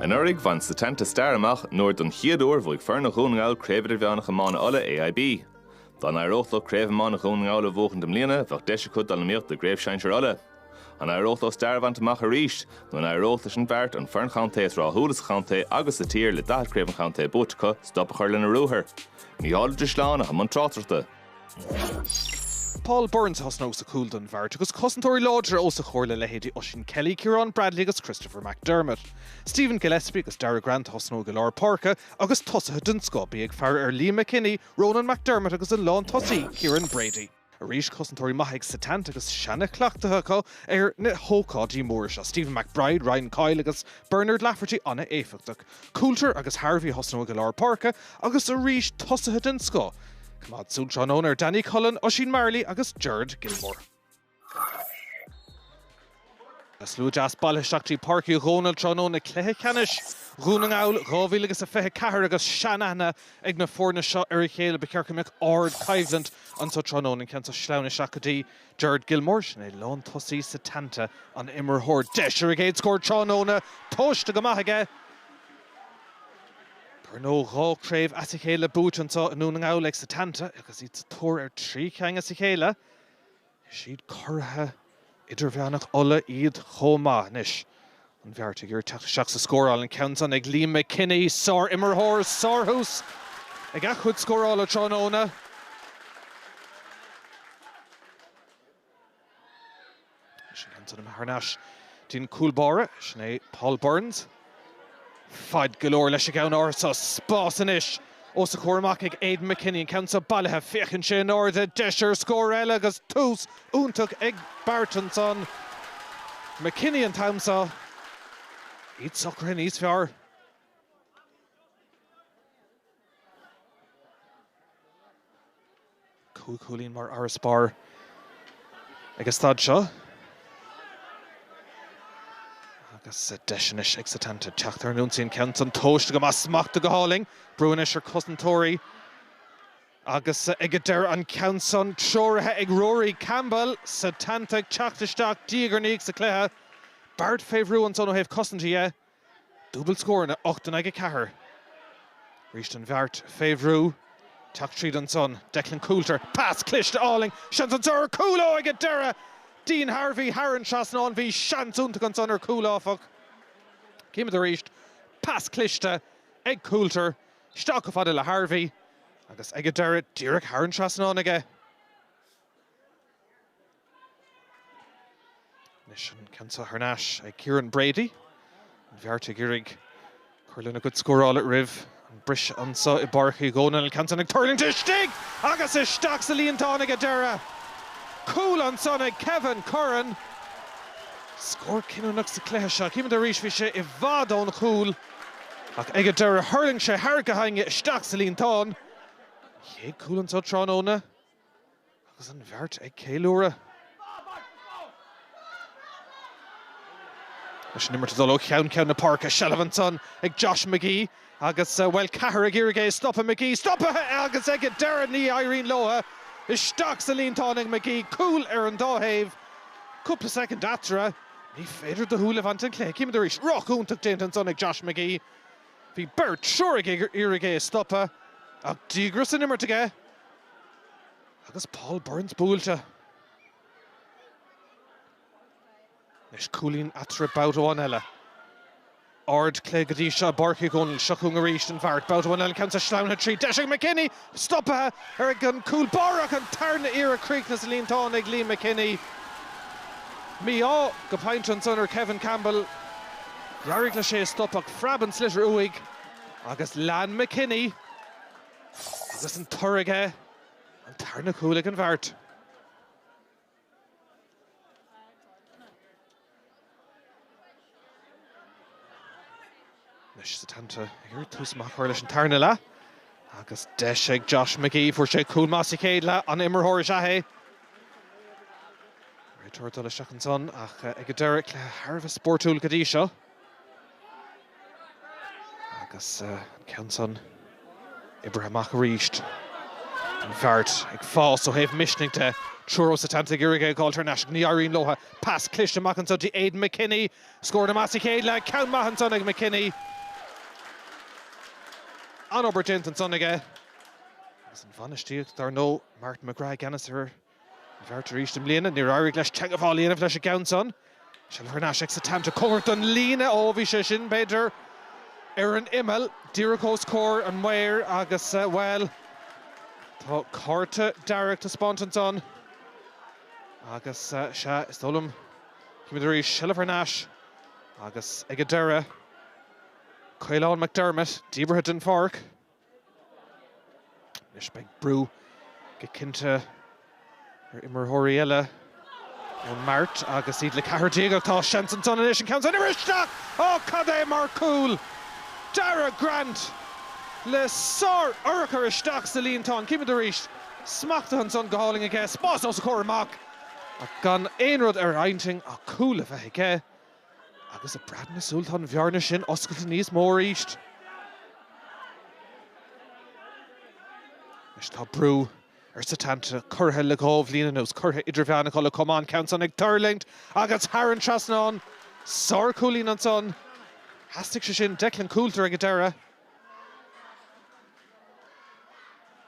Anuraidh, bhain Setanta stair amach nuair, don chéad uair, bhuaigh foirne Dhún na nGall Craobh Idirmheánach Iomána Uladh AIB. Dá n-éireodh leo Craobh Iomána Dhún na nGall a bhuachaint i mbliana, bheadh deis acu dul in iomaíocht i gCraobh Shinsear Uladh. An éireodh leo stair a bhaint amach arís, nó an éireodh leis an Bheart, an fhoireann chontae is ráthúla sa chontae agus sa tír le 40 Craobh an Chontae buaite acu, stop a chur lena ruathar? Mícheál Ó Drisleáin atá i mbun tráchtaireachta. Paul Burns a thosnóidh sa chúl don mBeart agus cosantóirí láidre os a chomhair le leithéidí Oisín Kelly, Ciarán Bradley agus Christopher McDermott. Stephen Gillespie agus Darragh Grant a thosnóidh i lár páirce agus tosaithe den scoth bí ag faire ar Liam McKinney, Ronan McDermott agus an lántosaí, Kieran Brady. Arís cosantóirí maithe ag Setanta agus seana-chleachtadh acu ar na hócáidí móra seo, Stephen McBride, Ryan Coyle agus Bernard Lafferty an-éifeachtach. Coulter agus Harvey a thosnóidh i lár páirce agus arís tosaithe den scoth. Coimeád súil tráthnóna ar Danny Cullen, Oisín Marley agus Gerard Gilmore. Tá slua deas bailithe isteach dtí Páirc Uí Dhónaill tráthnóna i gcluiche ceannais Dhún na nGall 2024 agus seanaithne ag na foirne seo ar a chéile. Ba cheart go mbeadh ardchoimhlint anseo tráthnóna, an ceann seo slán isteach go dtí. Gerard Gilmore, sin é lán tosaí Setanta, an-imreoir. Deis ar a gcéad scór tráthnóna. Tomhaiste go maith aige. Dar ndóigh dhá chraobh as a chéile buaite anseo i nDún na nGall ag Setanta agus iad sa tóir ar thrí cheann as a chéile. Is iad curaithe idirmheánach Uladh iad chomh maith anois An Bheart ag iarraidh teacht isteach sa scóráil, an ceann san ag Liam McKinney, sár-imreoir, sárthús ag a chuid scórála tráthnóna. Sin ceann san imithe thar n-ais dtí an cúl báire, sin é Paul Burns. Fad go leor leis an gceann arís, spás anois! Os a chomhair amach ag Aidan McKinney, an ceann seo bailithe, féachann sé in airde, deis ar scór eile agus tús iontach ag Beart ansan. McKinney an t-am seo, iad socraithe níos fearr. Cúig chúilín mar fharasbarr ag an staid seo agus deis anois ag Setanta teacht ar an ionsaí. An ceann san tomhaiste go maith, smachtaithe go hálainn. Brú anois ar cosantóirí agus ag an deireadh an ceann san treoraithe ag Rory Campbell. Setanta ag teacht isteach diaidh ar ndiaidh sa cluiche. Beart fé bhrú ansan ó thaobh cosanta dhe. Dúbailt scóranna, 8 in aghaidh 4. Arís an Bheart fé bhrú. Teacht tríd ansan. Declan Coulter. Pas cliste álainn. Seans anso ar chúl ó ag an deireadh Dean Harvey thar an trasnán. Bhí seans iontach ansan ar chúl áfach. Címid arís. Pas cliste ag Coulter isteach chomh fada le Harvey agus ag an deireadh díreach thar an trasnán aige. Anois an ceann seo thar n-ais ag Kieran Brady. An Bheart ag iarraidh cur lena gcuid scórála roimh an briseadh anseo i bPáirc Uí Dhónaill. An ceann sin ag tuirlingt istigh agus isteach sa líontán ag an deireadh. Cúl ansan ag Kevin Curran. Scór cinniúnach sa chluiche seo. Chímid arís bhí sé i bhfad ón chúl ach ag an deireadh thuirling sé thar a cheann aige isteach sa líontán. An chéad cúl anseo tráthnóna. Agus an Bheart ag ceiliúradh leis an imirt ag dul ó cheann ceann na páirce, seilbh ansan ag Josh McGee agus, bhuel, ceathrar ag iarraidh é a stopadh. McGee stoptha agus ag an deireadh ní éiríonn leothu. Isteach sa líontán ag McGee, cúl ar an dá thaobh. Cúpla soicind eatarthu. Ní féidir do shúil a bhaint den chluiche. Címid arís, rith iontach déanta ansan ag Josh McGee. Bhí beirt, triúr ag iarraidh é a stopadh, ach díograis san imirt aige. Agus Paul Burns buailte. Anois cúilín eatarthu babhta amháin eile. Ardchluiche go dtí seo i bPáirc Uí Dhónaill. Seo chugainn arís an Bheart. Babhta amháin eile an ceann seo sleamhnaithe tríd. Deis ag McKinney! Stopaithe air ag an cúl báire ach an tarna iarraidh críochnaithe sa líontán ag Liam McKinney. Mí-ádh go pointe ansan ar Kevin Campbell. D'éirigh leis é a stop ach phreab an sliotar uaidh agus lean McKinney. Agus an toradh aige, an tarna cúl ag an Bheart. Anois Setanta ag iarraidh tús maith a chur leis an tarna leath agus deis ag Josh McGee. Fuair sé cúl maith sa chéad leath, an-imreoir is ea é. Réiteoir dul isteach ansan ach ag an deireadh, cluiche thar a bheith spórtúil go dtí seo. Agus an ceann san oibrithe amach arís. An Bheart ag fás ó thaobh misnigh de. Triúr ó Setanta ag iarraidh é a fháilt thar n-ais ach ní éiríonn leothu. Pas cliste amach anso dtí Aidan McKinney. Scóranna maithe sa chéad leath. Ceann maith ansan ag McKinney. An-obair déanta ansan aige. Agus an bhainistíocht, dar ndó', Martin McGrath i gceannas ar An Bheart arís i mbliana, níor éirigh leis teagmháil a dhéanamh leis an gceann san. Seilbh thar n-ais ag Setanta. Comhgarach don líne, ó bhí sé sin, b'fhéidir, ar an imeall, díreach os comhair an mhaoir agus, bhuel, tá cárta dearg taispeánta ansan. Agus, sea, is dóigh liom, címid arís, seilbh thar n-ais agus, ag an deireadh, Caolán McDermott díbeartha den pháirc. Anois beidh brú go cinnte ar imreoirí eile ón mBeart agus iad le ceathrar déag ach tá seans ansan anois an ceann san a imirt isteach! Ó cad é mar cúl! Daragh Grant le sár-urchar isteach sa líontán. Címid arís. Smachtaithe ansan go hálainn aige, spás os a chomhair amach ach gan aon rud ar intinn ach cúl a fháilt aige. Agus i bpreab na súl, tá an bhearna sin oscailte níos mó arís. Anois tá brú ar Setanta, curaidh le dhá bhliain anuas, curaidh idirmheánach Uladh, chomh maith an ceann san ag tuirlingt agus thar an trasnán. Sárchúilín ansan. Theastaigh sé sin. Declan Coulter ag an deireadh.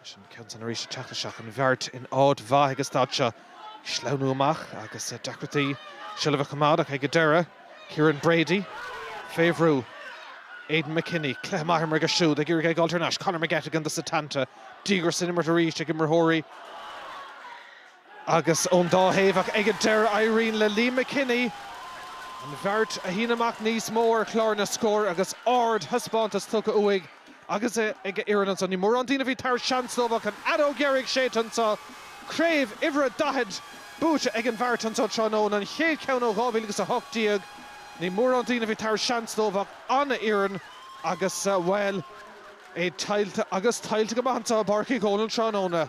Leis an gceann san arís ag teacht isteach, an Bheart in áit mhaith ag an staid seo sleamhnú amach agus deacrachtaí seilbh a choimeád ach ag an deireadh, Kieran Brady fé bhrú, Aidan McKinney, cluiche maith imeartha aige siúd, ag iarraidh é a fháilt thar n-ais, Conor McGettigan do Setanta, díograis san imirt arís ag imreoirí. Agus ón dá thaobh ach ag an deireadh éiríonn le Liam McKinney an Bheart a shíneadh amach níos mó ar chlár na scór agus ardthaispeántas tugtha uaidh agus ag a fhoireann anseo. Ní mórán daoine a bhí tar éis seans a thabhairt dóibh ach an fheadóg dheiridh séidte anseo. Craobh uimhir a 40 buaite ag an Bheart anseo tráthnóna, an chéad cheann ó 2018. Ní mórán daoine a bhí tar éis seans a thabhairt dóibh ach an-fhoireann agus, bhuel, é tuillte agus tuillte go maith anseo i bPáirc Uí Dhónaill tráthnóna.